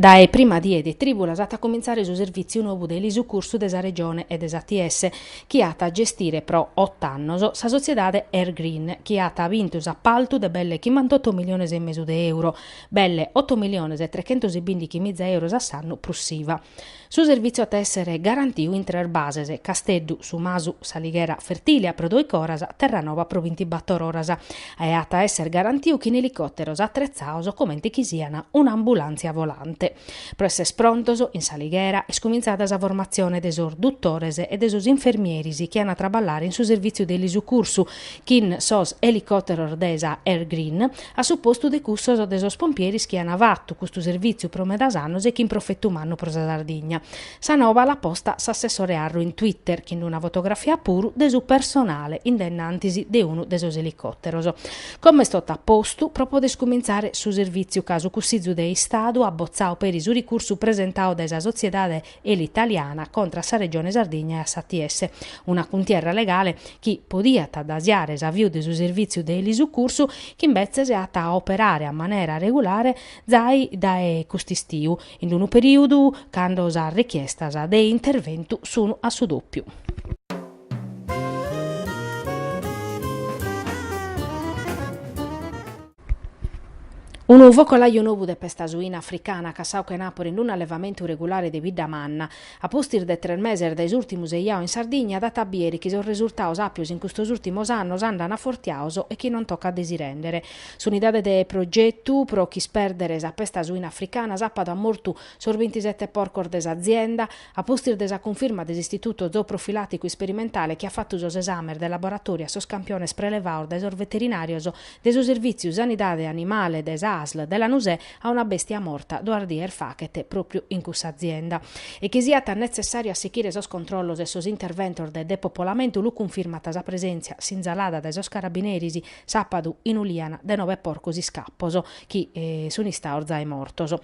Dae prima die de trìbulas at a comintzare su servìtziu nou de elisucursu de sa Regione e de s'ATS, chi at a gestire pro ot'annos sa sotziedade Air Green, chi at bintu s'apaltu de belle chimbantotto miliones e mesu de euro, belle otto miliones e trechentos e bìndighi miza euros a s'annu prus s'IVA. Su servìtziu at a èssere garantiu in tres bases, Casteddu, Su Masu, S'Alighera, Fertìlia, pro dòichi oras, Terranova pro bintibàtor oras, e at a èssere garantiu chin elicòteros atretzados comente chi sian un'ambulàntzia volante. Pro èssere prontos, in S'Alighera, est cumintzada sa formatzione de sos dutores e de sos infermieris chi an a traballare in su servìtziu de elisucursu chin sos elicòteros de sa Air Green, a su postu de cussos de sos pompieris chi an fatu custu servìtziu pro medas annos e chin profetu mannu pro sa Sardigna. Sa noba l'at posta s'assessore Arru in Twitter, chin una fotografia puru de su personale in denantis de unu de sos elicòteros. Como est totu a postu pro poder iscumintzare su servìtziu ca su Cussizu de Istadu at botzadu peri su ricursu presentadu dae sa sotziedade Elitaliana contra a sa Regione Sardigna e a s'ATS, una cuntierra legale chi podiat addasiare s'aviu de su servìtziu de elisucursu chi imbetzes at a operare a manera regulare zai dae cust'istiu, in unu perìudu cando sas richiestas de interventu sun a su dòpiu. Unu focolaju nobu de pesta suina africana cassau chenàpura in un'allevamentu regulare de Biddamanna. A pustis de tres meses dae s'ùrtimu seiau in Sardigna dat a bìere chi sos resurtaos àpios in custos ùrtimos annos andan afortiaos e chi non tocat de si rèndere. S'unidade de progetu pro ch'ispèrdere sa pesta suina africana sàpadu at mortu sos bintisete porcos de s'azienda, A pustis de sa cunfirma de s'Istituto Zooprofilàticu Isperimentale chi at fatu sos esàmenes de laboratòriu a sos campiones prelevados dae sos veterinàrios de su Servìtziu Sanidade Animale de sa ASL de Lanusè a una bèstia morta duas dies fachet pròpiu in cussa azienda e chi siat netzessàriu a sichire sos controllos e sos interventos de depopolamentu lu cunfirmat sa presèntzia sinzalada dae sos carabineris sàpadu in Uliana de nove porcos iscapos chi sun istados zae mortos.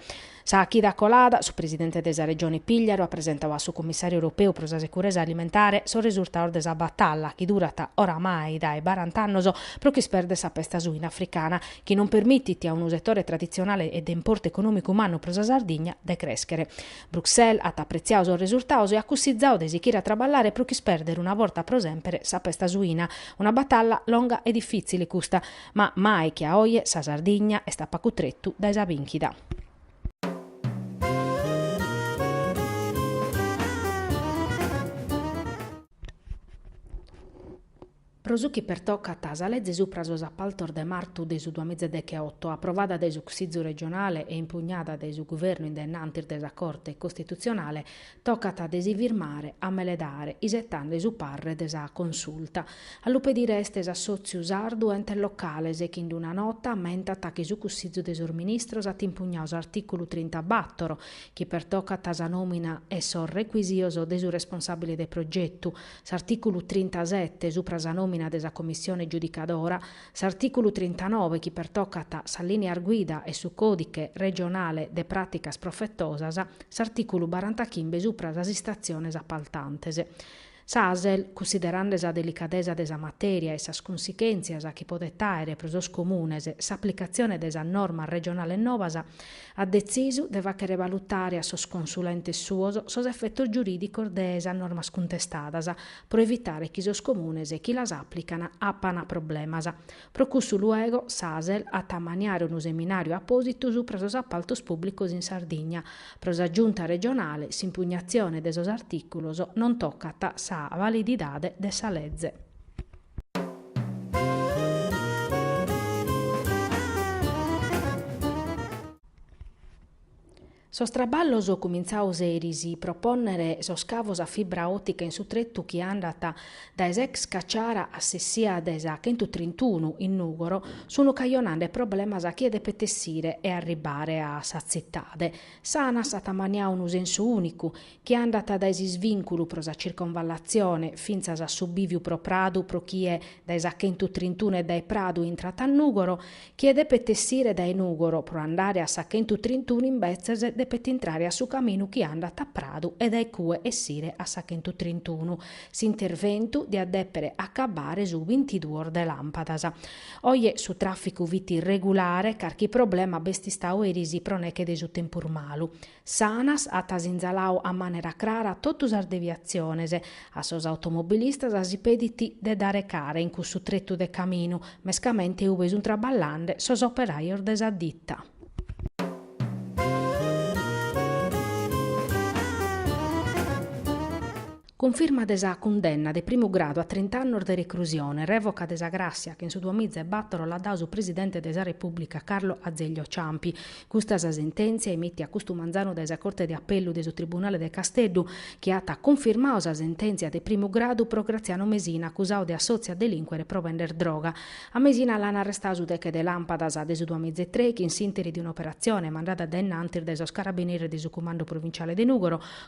Sa chida colada, su presidente de sa Regione Pìgliaru at presentadu a su Commissàriu europeu pro sa seguresa alimentare sos resurtados de sa batalla, chi durat oramai dae barant'annos, pro ch'isperdere sa pesta suina africana, chi non permitit a unu setore traditzionale e de importu econòmicu mannu pro sa Sardigna, de crèschere. Bruxelles at apretziadu sos resurtados e at cussizadu de sichire a traballare pro ch'isperdere una borta pro semper sa pesta suina. Una batalla longa e difìtzile custa, Ma mai che a oje sa Sardigna est a pacu tretu dae sa bìnchida. Pro su chi pertocat sa leze supra sos apaltos de martu de su duamiza e decheoto, aprovada dae su Cussizu regionale e impugnada dae su Guvernu in dennantis de sa Corte Costitutzionale, Tocat de si firmare a meledare isetande su parre de sa Consulta. A lu pedire est s'Assòtziu Sardu Entes Locales chi in d-una nota ammentat chi su Cussizu de sos Ministros at impugnau s'artìculu trintabatoro chi pertocat sa nòmina e sos recuisios de su responsàbile de progetu, s'artìculu trintasete supra sa nòmina de sa Commissione giudicadora, S'artìculu trintanoe chi pertocat sas lìnias guida e su Còdiche regionale de pràticas profetosas, s'artìculu barantachimbe supra sas istatziones apaltantes. Sa Asel, cussiderande sa delicadesa de sa matèria e sas cunsichèntzias chi podet àere pro sos comunes s'aplicatzione de sas normas regionales nobas, at detzisu de fàchere valutare a sos consulentes suos sos efetos giurìdicos de sas normas cuntestadas, pro evitare chi sos comunes chi las aplican apana problemas. Pro cussu luego s'Asel at a ammaniare unu seminàriu apòsitu supra sos apaltos pùblicos in Sardigna. Pro sa Giunta regionale s'impugnatzione de sos artìculos non tocat sa valididade de sa leze. Sos traballos cumintzaos eris pro pònnere sos cavos a fibra òtica in su tretu chi andat dae s'ex Caciara a s'essia de sa chentutrintunu in Nùgoro sunt cajonande problemas a chie depet essire e arribare a sa tzitade. S'Anas at ammaniau unu sensu ùnicu, chi andat dae s'isvìnculu pro sa circonvallatzione fintzas a su bìviu pro Pradu pro chie dae sa Chentu Trintunu e dae Pradu intrat a Nùgoro, chie depet essire dae Nùgoro pro andare a sa Chentu Trintunu imbetzes depet intrare a su caminu chi andat a Pradu e dae cue essire a sa Chentu Trintunu. S'interventu diat dèpere acabbare su bintiduos de làmpadas. Oje su tràficu fit regulare, carchi problema b'est istau eris pro neche de su tempus malu. S'Anas at sinzalau a manera crara totu sas deviatziones, a sos automobilistas si pedit de dare cara in cussu tretu de caminu, mescamente ube sunt traballande sos operajos de sa ditta. Cunfirma de sa cundenna de primu gradu a trint'annos de recrusione, revoca de sa gràssia che in su duamiza e bàtoro l'at dadu su Presidente de sa Repùblica Carlo Azeglio Ciampi. Custa sa sentèntzia emìtia custu manzanu dae sa Corte de Apellu de su Tribunale de Casteddu chi at cunfirmadu sa sentèntzia de primu gradu pro Graziano Mesina acusadu de assòtziu a delìnquere pro bender droga. A Mesina l'an arrestadu su deche de làmpadas de su duamiza e trèichi in s'ìnteri de un'operatzione mandada dae in antis dae sos Carabineris de su Cumandu Provinciale de Nùgoro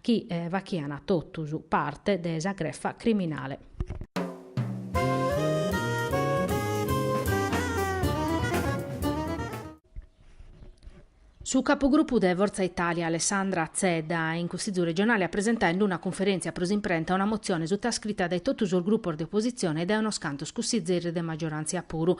chi fachian totus parte de sa grefa criminale. Su capugrupu de Forza Italia Alessandra Zedda in Cussizu Regionale at presentau in d-una cunferèntzia pro s'imprenta una motzione sutascrita dae totu sos grupos de opositzione e dae unos cantos cussizeris de maggioràntzia puru.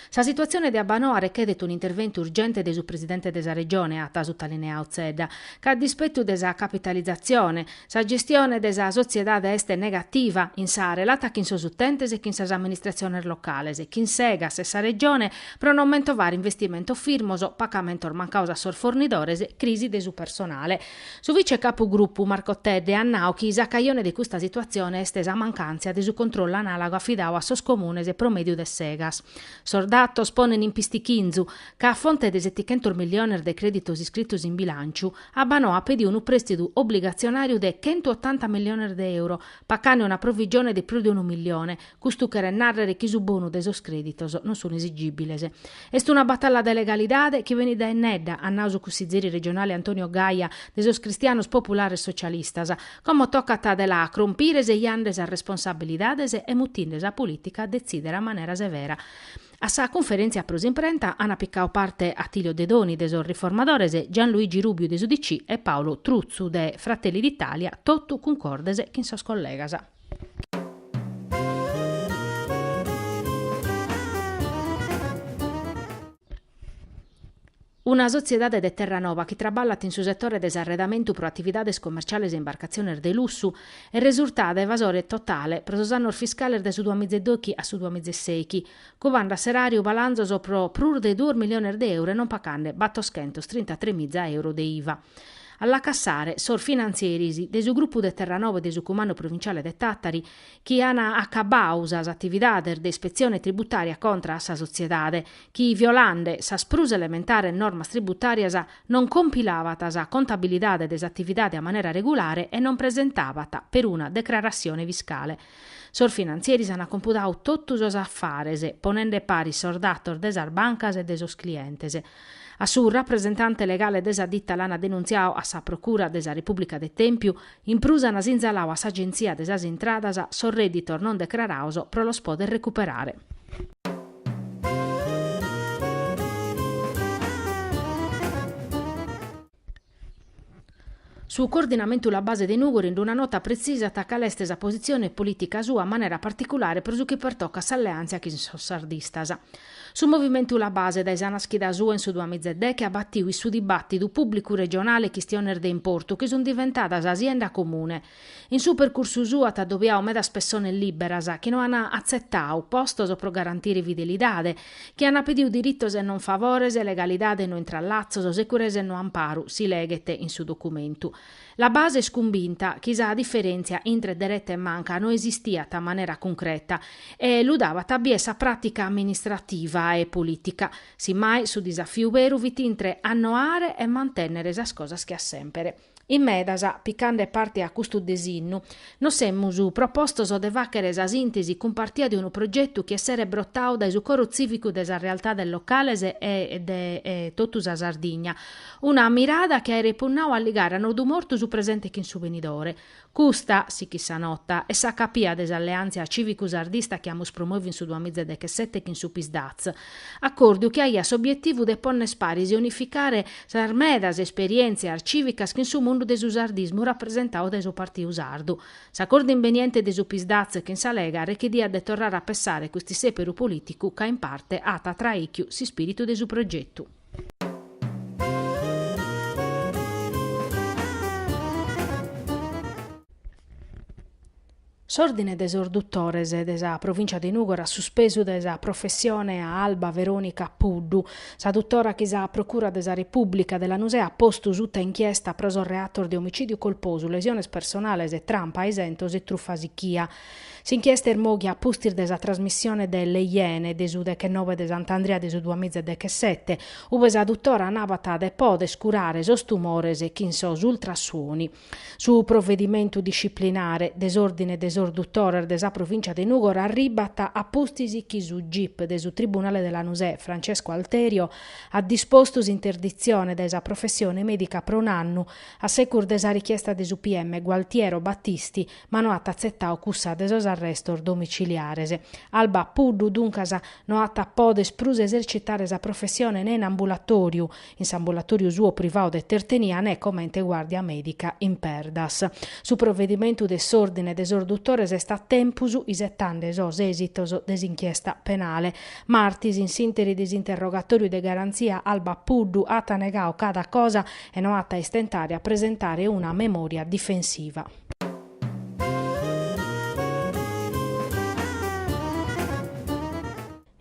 Sa situatzione de Abbanoa rechèdet un'interventu urgente de su presidente de sa Regione, at sutalineau Zedda, ca a dispetu de sa capitalizatzione, sa gestione de sa sotziedade est negativa in sa relata chin sos utentes e chin sas amministratziones locales, chin s'Egas e sa Regione pro non mentovare investimentos firmos, pacamentos mancaos a sos fornidores, crisi de su personale. Su vice capu grupu Marco Tedde at nau chi sa cajone de custa situatzione est sa mancàntzia de su controllu anàlogu afidau a sos comunes pro mèdiu de s'Egas. Sos datos ponent in pistichinzu ca a fronte de setichentos milliones de crèditos iscritos in bilànciu, Abbanoa at pediu unu prèstidu obligatzionàriu de chentu otanta milliones de euro, pacande una provigione de prus de unu milione, Custu cheret nàrrere chi su bonu de sos crèditos non sun esigìbiles. Est una batalla de legalidade chi benit dae innedda, at nau su cussizeri regionale Antonio Gaia de sos Cristianos Populares Socialistas, como tocat de la crompire sejande sas responsabilidades e mutinde sa polìtica a detzìdere a manera severa. A sa cunferèntzia pro s'imprenta ant picau parte Attilio Dedoni de sos Riformadores, Gianluigi Rubiu de s'UDC e Paolo Truzzu de Fratelli d'Italia, totu cuncordes chin sos collegas. Una sotziedade de Terranova chi traballat in su setore de s'arredamentu pro atividades comerciales e imbarcatziones de lussu est resurtada evasore totale pro sos annos fiscales de su duamiza e dochi a su duamiza e sèichi, cubande a s'eràriu balanzos pro prus de duos miliones de euro e non pacande battoschentos trintatremiza euro de iva. a la cassare sos finantzeris de su grupu de Terranova e de su Cumandu Provinciale de Tàtari chi an acabbau sas atividades de ispetzione tributària contra a sa sotziedade chi, violande sas prus elementares normas tributàrias, non compilabat sa contabilidade de s'atividade a manera regulare e non presentabat peruna decrarassione fiscale. Sos finantzeris an compudau totu sos afares, ponende paris sos datos de sas bancas e de sos clientes, A su rapresentante legale de sa ditta l'ana denuntziadu a sa Procura de sa Repubblica de Tempiu, in prus ana sinzaladu a s'Agenzia de sas Intradas sos redditos non decrarados pro los poder recuperare. Su coordinamentu la base de Nùgori in d'una nota pretzisat cale est sa positzione polìtica sua a manera particulare pro su chi pertocat s'alleàntzia chin sos sardistas. Su movimentu la base dae sa naschida sua in su duamìa e deghe at batiu in su dibàtidu pùblicu regionale chistiones de importu chi sunt diventadas sienda comune, In su percursu suu at adobiau medas pessones liberas chi no an atzetau postos pro garantire fidelidade, chi an pediu diritos e non favores, legalidade e no intrallatzos, securesa e no amparu, si leghet in su documentu. La base est cumbinta chi sa diferentzia intre dereta e manca no esistiat a manera cuncreta e lu dabat a bier sa pratica amministrativa e politica. Si mai su disafiu beru fit intre annoare e mantennere sas cosas che a sempere. In medas, picande parte a custu desinnu, nos semus propostos de fàghere sa sìntesi cumpartia de unu progetu chi esseret brotau dae su coro tzìvicu de sas realtades locales e de totu sa Sardigna, una mirada chi aeret punnau a ligare a nodu mortu su presente chin su benidore, Custa, sichit sa nota, est sa capia de s'alleàntzia cìvicu-sardista chi amus promòviu in su duamiza e dechesete chin su Pis-Daz, acòrdiu chi aiat s'obietivu de ponnes paris e unificare sas medas esperièntzias cìvicas chin su mundu de su sardismu rapresentau dae su Partiu Sardu. S'acòrdiu imbeniente de su Pis-Daz chin sa Lega rechediat de torrare a pessare custu sèperu polìticu ca in parte at traìchiu s'ispìritu de su progetu. S'Òrdine de sos Dutores de sa Provìncia de Nùgoro at suspesu dae sa professione a Alba Veronica Puddu. Sa dutora chi sa Procura de sa Repùblica de Lanusè at postu suta inchiesta pro sos reatos de omicìdiu colposu, lesiones personales, trampa a isentos e trufa sichia. S'inchiesta er mòghia a pustis de sa trasmissione de Le Iene de su dechenoe de Sant'Andria de su duamiza e dechesete, ue sa dutora nabat de poder curare sos tumores chin sos ultrasuonos. Su provedimentu disciplinare de s'Ordine de sos Dutores de sa Provìncia de Nùgoro arribat a pustis chi su gip de su Tribunale de Lanusè Francesco Alterio at dispostu s'interditzione dae sa professione mèdica pro un'annu a segus de sa richiesta de su PM Gualtiero Battisti ma no at atzetau cussa de sos arrestos domiciliares. Alba Puddu, duncas, no at a poder prus esercitare sa professione ne in ambulatoriu, in s'ambulatoriu suo privau de Tertenia ne comente guardia medica in Perdas. Su provedimentu de s'ordine de sos dutores est a tempus, isetande sos esitos de s'inchiesta penale. Martis, in s'interi de s'interrogatoriu de garanzia, Alba Puddu at negau cada cosa e no at a istentare a presentare una memoria difensiva.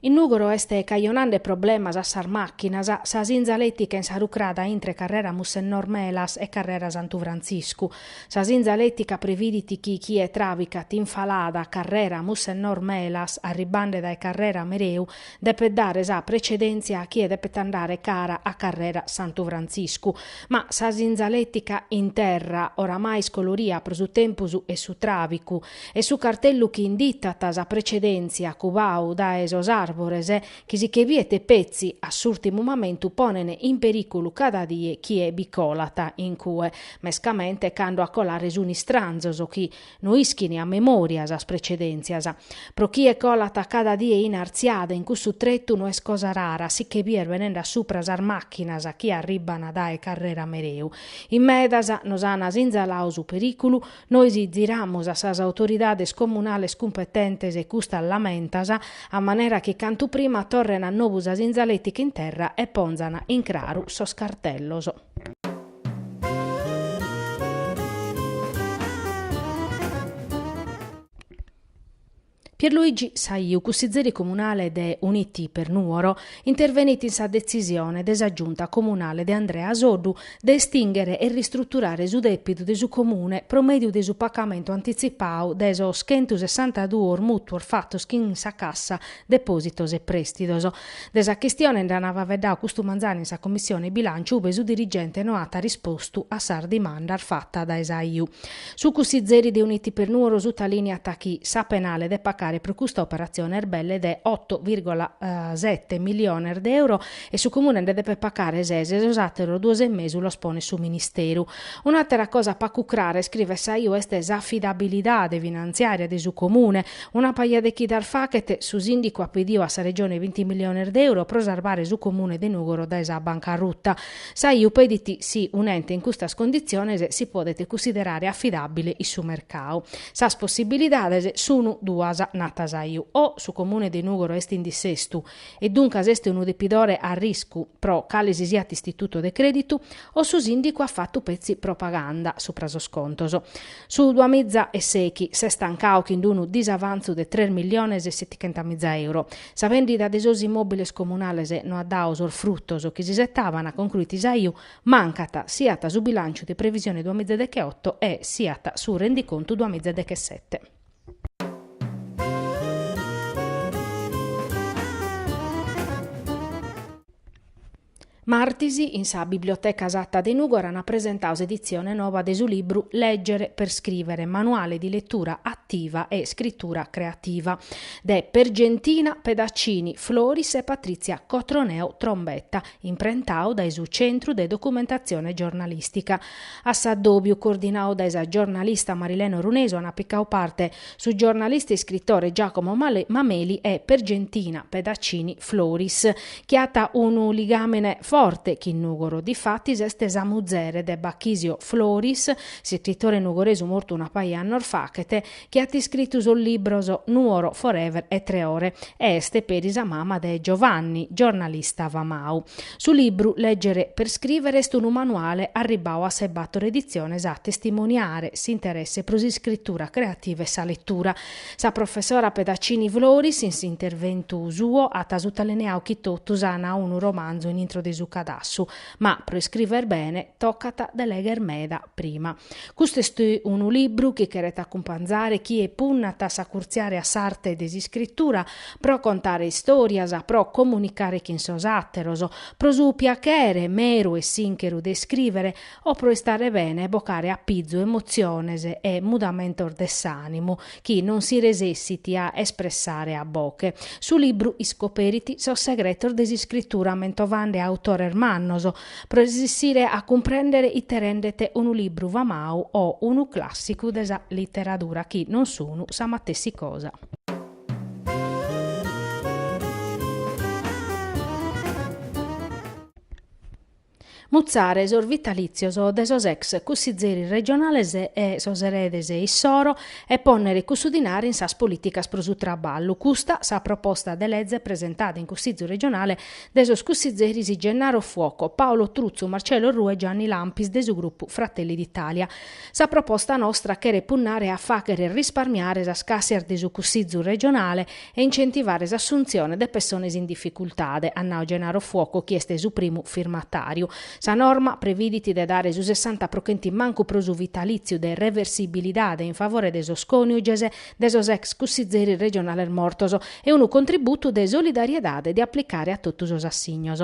In Nùgoro est cajonande problemas a sas màchinas sa sinzaletica insarucrada intre Carrera Mussennor Melas e Carrera Santu Frantziscu. Sa sinzaletica previdit chi chie travicat in falada Carrera Mussennor Melas arribande dae Carrera Mereu Depet dare sa precedèntzia a chie depet andare cara a Carrera Santu Frantziscu. Ma sa sinzalètica in terra, oramai iscoloria pro su tempus e su tràvicu, e su cartellu chi inditat sa precedèntzia cubau dae sos àrbores chi si che biet petzi a s'ùrtimu mamentu ponen in perìculu cada die chie bi colat in cue, mescamente cando a colare sun istranzos chi, No ischin a memòria sas precedèntzias. Pro chie colat cada die in artziada in cussu tretu no est cosa rara si che bìder benende a supra sas màchinas chi arribban dae Carrera Mereu. In medas nos an sinzalau su perìculu, nois ziramus a sas autoridades comunales cumpetentes e custas lamentas, a manera chi cantu prima torren a nobu sa sinzalètica in terra e ponzan in craru sos cartellos. Pierluigi Saiu, cussizeri comunale de Uniti per Nuoro, intervenit in sa detzisione de sa Giunta comunale de Andrea Soddu de estinghere e ristruturare su dèpidu de su Comune pro mèdiu de su pacamentu antitzipau de sos chentusessantaduos mùtuos fatos chin sa Cassa depòsitos e prèstidos. De sa chistione nd'ant faveddau custu manzanu in sa Commissione Bilànciu ube su dirigente no at rispostu a sas dimandas fatas dae Saiu. Su cussizeri de Uniti per Nuoro sutalìniat chi sa penale de pacare pro custa operatzione est belle de oto virgola sete miliones de euro e su Comune nde depet pagare ses e sos àteros duos e mesu los ponet su Ministeru. Un'àtera cosa pacu crara, iscrivet Saiu, est s'afidabilidade finantziària de su Comune. Una paja de chidas fachet, su Sìndicu at pediu a sa Regione binti miliones de euro pro sarbare su Comune de Nùgoro dae sa bancarruta. Saiu pedit si un'ente in custas conditziones si podet cussiderare afidàbile in su mercadu. Sas possibilidades sunu duas, nat Saiu, o su Comune de Nùgoro est in dissestu, e duncas est unu depidore a riscu pro cale si siat istituto de crèditu, o su sìndicu at fatu petzi propaganda supra sos contos. Su duamiza e sèighi s'est tancadu chin unu disavantzu de tres milliones e settighentamiza euro. Sa vèndida de sos immòbiles comunales no at dadu sos frutos chi s'isetavana, concruit Saiu, mancat siat su bilànciu de previsione duamiza deghe oto e siat su rendicontu duamiza deghe sete. Martis, in sa Biblioteca Satta de Nùgoro ant presentau s'editzione noba de su libru Leggere per scrivere, Manuale di lettura attiva e scrittura creativa de Pergentina Pedaccini Floris e Patrizia Cotroneo Trombetta, imprentau dae su Centru de Documentatzione Giornalìstica. A s'addòbiu, coordinau dae sa giornalista Marilena Orunesu, ant picau parte su giornalista e iscritore Giacomo Mameli e Pergentina Pedaccini Floris, chi at unu ligàmene forte chin Nùgoro. Difatis est sa muzere de Bachisio Floris, s'iscritore nugoresu mortu una paja annos faghet, chi at iscritu sos libros Nuoro Forever e Tre ore e est peri sa mama de Giovanni, giornalista famadu. Su libru Leggere per scrivere est unu manuale arribbadu a sas bator editziones a testimoniare s'interesse pro s'iscritura creativa e sa letura. Sa professora Pedaccini Floris, in s'interventu suo, at sutalineadu chi totus an unu romanzu in intro de su cadassu, Ma pro iscriver bene tocat de legher meda prima. Custu est unu libru chi cheret acumpanzare chie punnat a s'acurtziare a s'arte de s'iscritura, pro contare istòrias, pro comunicare chin sos àteros, pro su piachere meru e sìncheru de iscrìvere o pro istare bene e bocare a pizu emotziones e mudamentos de s'ànimu, chi non si resessit a espressare a boche. Su libru iscoperit sos segretos de s'iscritura mentovande autores mannos, pro resessire a cumprèndere ite rendet unu libru famadu o unu clàssicu de sa literadura chi non sun sa matessi cosa. Mutzare sos vitalìtzios de sos ex cussizeris regionales e sos eredes issoro e pònnere cussu dinari in sas polìticas pro su traballu, custa sa proposta de leze presentada in Cussizu regionale de sos cussizeris Gennaro Fuoco, Paolo Truzzu, Marcello Orrù e Gianni Lampis de su grupu Fratelli d'Italia. Sa proposta nostra cheret punnare a fàghere risparmiare sas càssias de su Cussizu regionale e incentivare s'assuntzione de pessones in dificultade, at nau Gennaro Fuoco chi est su primu firmatàriu. Sa norma previdit de dare su sessanta pro chentu in mancu pro su vitalìtziu de reversibilidade in favore de sos còniuges de sos ex cussizeris regionales mortos e unu contributu de solidariedade de aplicare a totu sos assignos.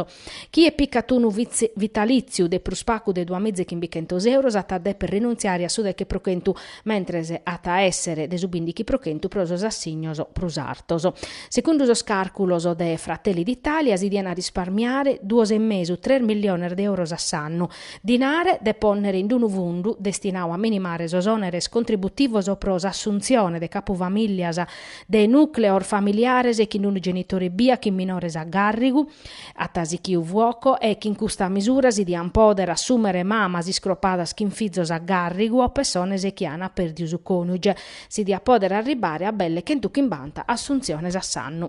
Chie picat unu vitalìtziu de prus pagu de duamiza e chimbichentos euros at a dèpere rinuntziare a su deche pro chentu, mentres at a èssere de su bindighi pro chentu pro sos assignos prus artos. Segundu sos càrculos de Fratelli d'Italia si diant risparmiare duos e mesu, tres milliones de euros a s'annu, dinare de pònnere in unu fundu destinadu a minimare sos òneres contributivos pro s'assuntzione de capufamìllias de nùcleos familiares chin unu genitore ebbia chin minores a gàrrigu. At sichiu Fuoco e chin custa misura si dian pòdere assùmere mamas iscropadas chin fizos a gàrrigu o pessones chi an pèrdiu su cònuge. Si diat pòdere arribare a belle chentu chimbanta assuntziones a s'annu.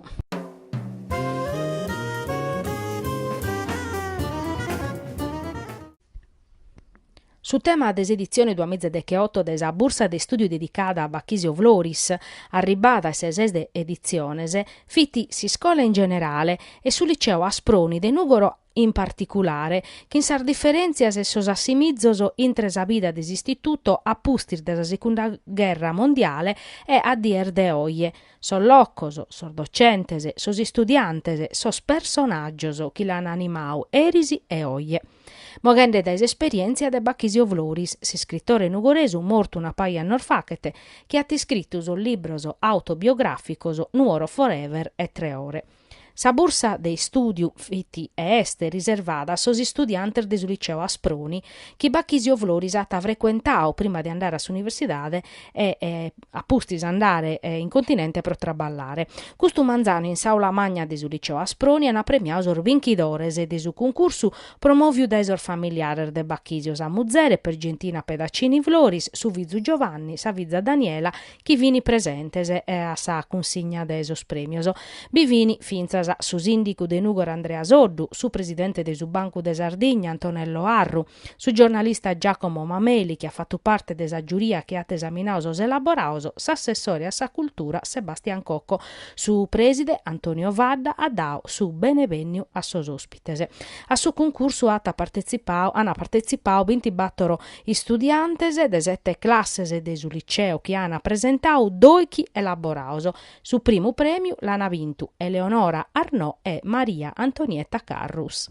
Su tema de s'editzione duamiza e decheoto de sa Bursa de Istùdiu dedicada a Bachisio Floris, arribada a sa 'e ses de editziones, fit s'iscola in generale e su liceu Asproni de Nùgoro in particulare, chin sas diferèntzias e sos assimizos intre sa bida de s'Istituto a pustis de sa Segunda Gherra Mondiale e a dies de oje, sos locos, sos docentes, sos istudiantes, sos personàgios chi l'an animadu eris e oje. Moghende dae s'esperièntzia de Bachisio Floris, s'iscritore nugoresu mortu una paja annos fachet, chi at iscritu sos libros autobiogràficos Nuoro Forever e Tre ore. Sa bursa de istùdiu fit e est riservada a sos istudiantes de su Liceu Asproni chi Bachisio Floris at frecuentadu prima de andare a s'universidade e a pustis andare in continente pro traballare. Custu manzanu in s'aula magna de su Liceu Asproni an premiadu sos binchidores de su cuncursu promòviu dae sos familiares de Bachisio, sa muzere Pergentina Pedaccini Floris, su fizu Giovanni, sa fiza Daniela chi fini presentes a sa cunsigna de sos prèmios. Bi fini fintzas su sìndigu de Nùgoro Andrea Soddu, su presidente de su Bancu de Sardigna Antonello Arru, su giornalista Giacomo Mameli chi at fatu parte de sa giuria chi at esaminadu sos elaborados, s'assessore a sa cultura Sebastian Cocco. Su prèside Antonio Fadda at dadu su benevènniu a sos òspides. A su cuncursu at partetzipadu, ant partetzipadu bintibator istudiantes de sete classes de su liceu chi ant presentadu doighi elaborados. Su primu prèmiu l'ant bintu Eleonora Arnò e Maria Antonietta Carrus.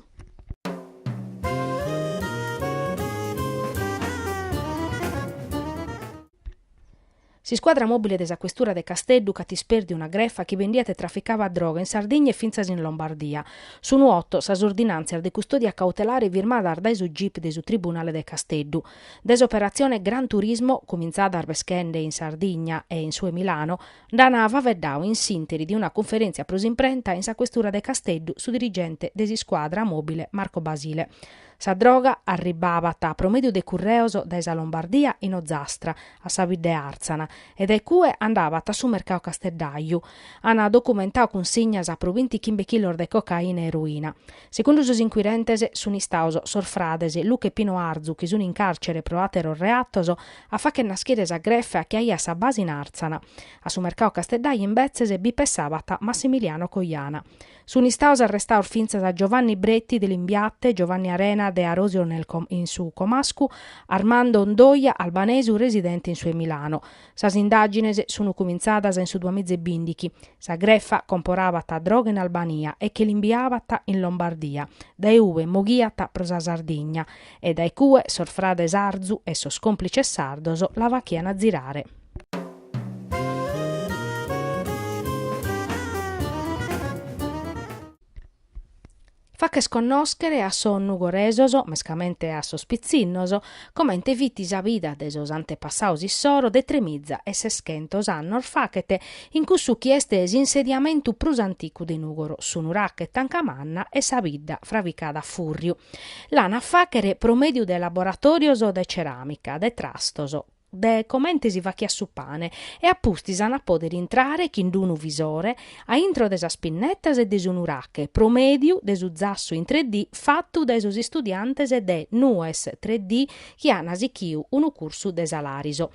S'iscuadra mòbile de sa questura de Casteddu ch'at ispèrdiu una grefa chi bendiat e traficabat droga in Sardigna e fintzas in Lombardia. Sun oto sas ordinàntzias de custòdia cautelare firmadas dae su gip de su tribunale de Casteddu. Dae s'operatzione Gran Turismo, cumintzada arbeschende in Sardigna e in su 'e Milano, nd'an faveddadu in s'ìnteri de una cunferèntzia pro s'imprenta in sa questura de Casteddu su dirigente de s'iscuadra mòbile Marco Basile. Sa droga arribbabat pro mèdiu de curreos dae sa Lombardia in Ozastra, a sa bidda de Àrtzana, e dae cue andabat a su mercau casteddaju. Ant documentau cunsignas pro binti chimbe chilos de cocaina e eroina. Segundu sos inquirentes, sunt istados sos frades Luca e Pino Arzu, chi sunt in càrcere pro àteros reatos, a fàchere naschire sa grefa chi aiat sa base in Àrtzana. A su mercau casteddaju imbetzes bi pessabat Massimiliano Coiana. Sunt istados arrestados fintzas Giovanni Bretti de Limbiate, Giovanni Arena de Arosio in su Comascu, Armando Ondoia, albanesu residente in su 'e Milano. Sas indàgines sunt cumintzadas in su duamìa e bìndighi. Sa grefa comporabat droga in Albania e che l'imbiabat in Lombardia, dae ue moghiat pro sa Sardigna e dae cue sos frades Arzu e sos còmplices sardos la fachian zirare. Fàcher connòschere a sos nugoresos, mescamente a sos pitzinnos, comente fit sa vida de sos antepassados issoro de tremiza e seschentos annos fachet in cussu chi est s'insediamentu prus anticu de Nùgoro, su nuraghe Tancamanna e sa bidda fravicada a fùrriu. L'an a fàchere pro mèdiu de laboratòrios de ceràmica, de trastos, de comente si fachiat su pane e a pustis an a pòdere intrare chin d-unu visore a intro de sas pinnetas e de su nurache pro mèdiu de su zassu in tre dì fatu dae sos istudiantes de Nues tre dì chi an sichiu unu cursu de sa Lariso.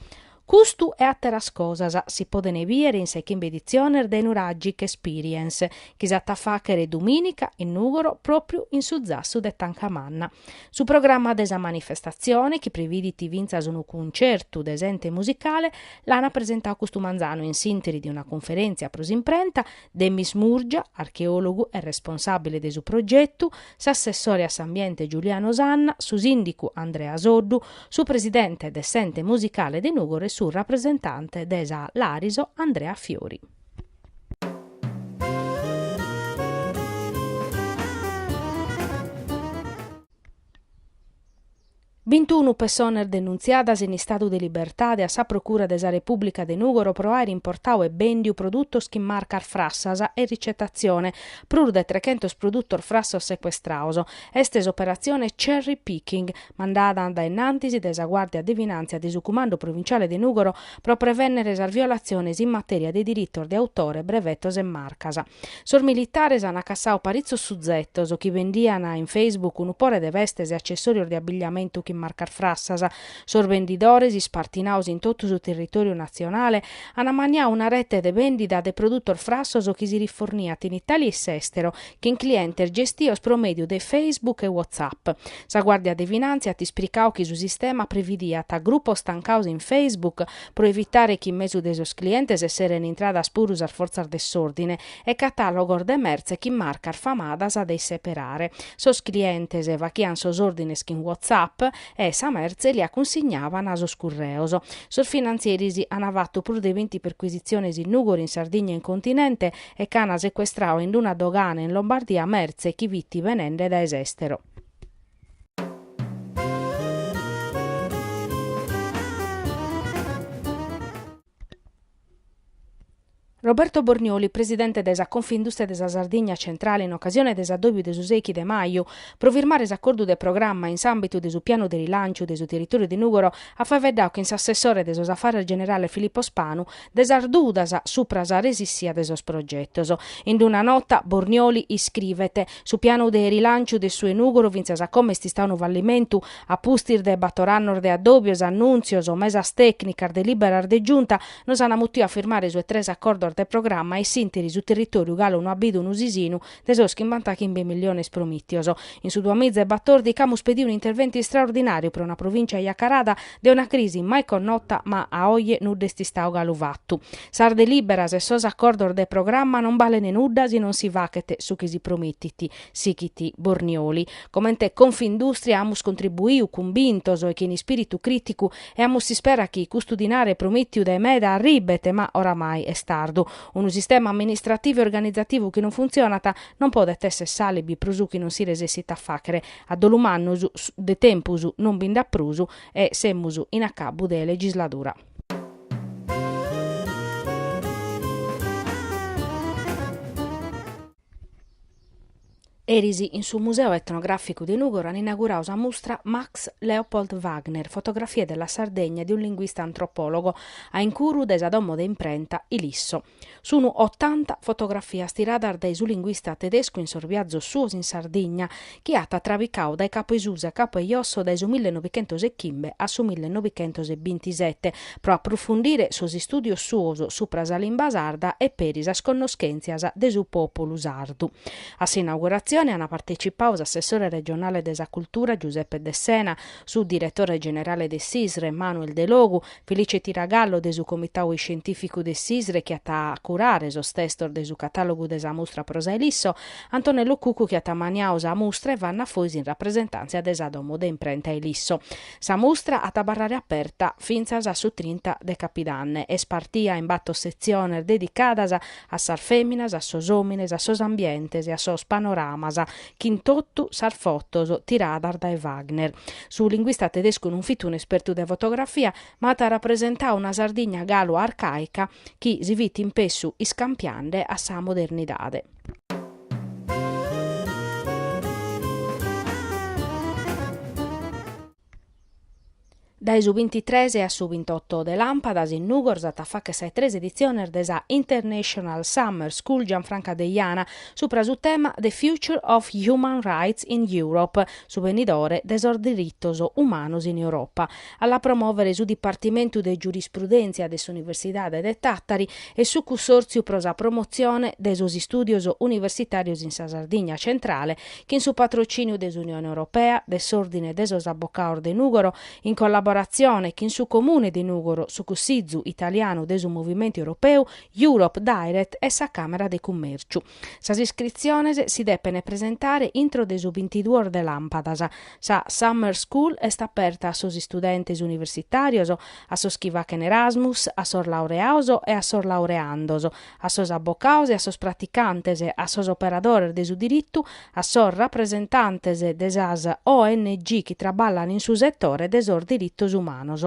Custu e àteras cosas si podent bìdere in sa 'e chimbe editziones de Nuragic Experience chi s'at a fàchere dumìnica in Nùgoro pròpiu in su zassu de Tancamanna. Su programma de sa manifestatzione, chi previdit fintzas unu cuncertu de s'Ente Musicale, l'ana presentadu custu manzanu in s'interi de una cunferèntzia pro s'imprenta, Demis Murgia, archeòlogu e responsàbile de su progetu, s'assessore a s'ambiente Giuliano Sanna, su sìndicu Andrea Soddu, su presidente de s'Ente Musicale de Nùgoro e su rapresentante de sa Lariso Andrea Fiori. Bintunu pessones denuntziadas in istadu de libertade a sa Procura de sa Repùblica de Nùgoro pro àere importadu e bèndiu produtos chin marcas frassas e ricetatzione, prus de trechentos produtos frassos secuestrados. Est s'operatzione Cherry Picking. mandada a dae innantis dae sa Guàrdia de Finàntzia de su Cumandu Provinciale de Nùgoro pro prevènnere sas violatziones in matèria de diritos de autore, brevetos e marcas. Sos militares ant cassadu paritzos suzetos chi bendian in Facebook unu pore de vestes e accessòrios de abilliamentu chin marcas frassas. Sos bendidores, ispartinados in totu su territòriu natzionale, ant maniadu una rete de bèndida de produtos frassos chi si riforniant in Itàlia e s'èstero, chin clientes gestios pro mèdiu de Facebook e WhatsApp. Sa Guàrdia de Finàntzia at ispricadu chi su sistema previdiat grupos tancados in Facebook pro evitare chi in mesu de sos clientes esseren intradas puru sas fortzas de s'òrdine e catàlogos de mertze chin marcas famadas de isseperare. Sos clientes faghiant sos òrdines chin WhatsApp e sa mertze lia cunsignavan sos curreos. Sos finantzieris ant fatu prus de binti percuisitziones in Nùgoro, in Sardigna e in continente e ch'ana secuestradu in d'una dogana in Lombardia mertze chi fit benende dae s'estero. Roberto Bornioli, presidente de sa Confindustria de sa Sardigna Centrale in ocasione de s'addòbiu de su seichi de maju pro firmare s'acordu de programma in s'àmbitu de su pianu de rilanciu de su territoriu de Nùgoro at faeddadu chin s'assessore de sos afares generales Filippo Spanu de sas dudas supra sa resissia de sos progetos. In una nota Bornioli iscrivet, Su pianu de rilànciu de su 'e Nùgoro fintzas a como est istadu unu fallimentu, a pustis de bator annos de addòbios, annùntzios, mesas tècnicas, delìberas de Giunta, nos an mutiu a firmare su 'e tres acordos de programma e s'ìnteri su territòriu galu no at bidu unu sisinu de sos chimbantachimbe milliones promìtios. In su duamiza e batòrdichi amus pediu un'interventu istraordinàriu pro una provìncia acarada de una crisi mai connota ma a oje nudda est istadu galu fatu. Sas delìberas e sos acordos de programma non balent nudda si non si faghet su chi si promitet, sighit Bornioli. Comente Confindustria amus contribuiu cumbintos e chin ispìritu crìticu e amus s'ispera chi custu dinare promìtiu dae meda arribet ma oramai est tardu. Unu sistema amministrativu e organizativu chi non funtzionat non podet esser s'alibi pro su chi non si resessit a fàghere. A dolu mannu, de tempus non bi nd'at prus e semus in acabu de legisladura. Eris in su Museu Etnogràficu de Nùgoro an inauguradu sa mustra Max Leopold Wagner, Fotografie della Sardegna di un linguista antropologo, a incuru de sa domo de imprenta Ilisso. Sunu otanta fotografias tiradas dae su linguista tedescu in sos biazos suos in Sardigna, chi at trabicadu dae capu 'e susi a capu 'e josso dae su millenovichentos e chimbe a su millenovichentos bintisete, pro aprufundire sos istùdios suos supra sa limba sarda e peri sas connoschèntzias de su pòpulu sardu. A s'inauguratzione ant partetzipadu s'assessore regionale de sa cultura Giuseppe Dessena, su diretore generale de s'ISRE Manuel Delogu, Felice Tiragallo de su Comitau Iscientìficu de s'ISRE chi at curadu sos testos de su catàlogu de sa mustra pro sa Ilisso, Antonello Cuccu chi at maniadu sa mustra e Vanna Fois in rapresentàntzia de sa domo de imprenta Ilisso. Sa mustra at a abarrare aperta fintzas a su trinta de capidanne. Est partida in bator setziones dedicadas a sas fèminas, a sos òmines, a sos ambientes e a sos panoramas chin totu sas fotos tiradas dae Wagner. Su linguista tedescu non fit un'espertu de fotografia, ma at rapresentadu una Sardigna galu arcàica chi si fit impessu iscampiende a sa modernidade. Dae su bintitres a su bintoto de Làmpadas in Nùgoro s'at a fàghere sa 'e tres editziones de sa International Summer School Gianfranca Deiana subra su tema The Future of Human Rights in Europe, su benidore de sos diritos umanos in Europa. A la promòvere sun su Dipartimentu de Giurisprudèntzia de s'Universidade de Tàtari e su Cunsòrtziu pro sa promotzione de sos istùdios universitàrios in sa Sardigna centrale chin su patrocìniu de s'Unione Europea, de s'Òrdine de sos Abocados de Nùgoro, in collaboratzione chin su Comune de Nùgoro, su Cussizu italianu de su Movimentu Europeu, Europe Direct e sa Càmera de Cummèrciu. Sas iscritziones si depen presentare intro de su bintiduos de làmpadas. Sa Summer School est aperta a sos istudentes universitàrios, a sos chi faghen Erasmus, a sos laureados e a sos laureandos, a sos abocados, a sos praticantes, a sos operadores de su diritu, a sos rapresentantes de sas ONG chi traballan in su setore de sos diritos umanos.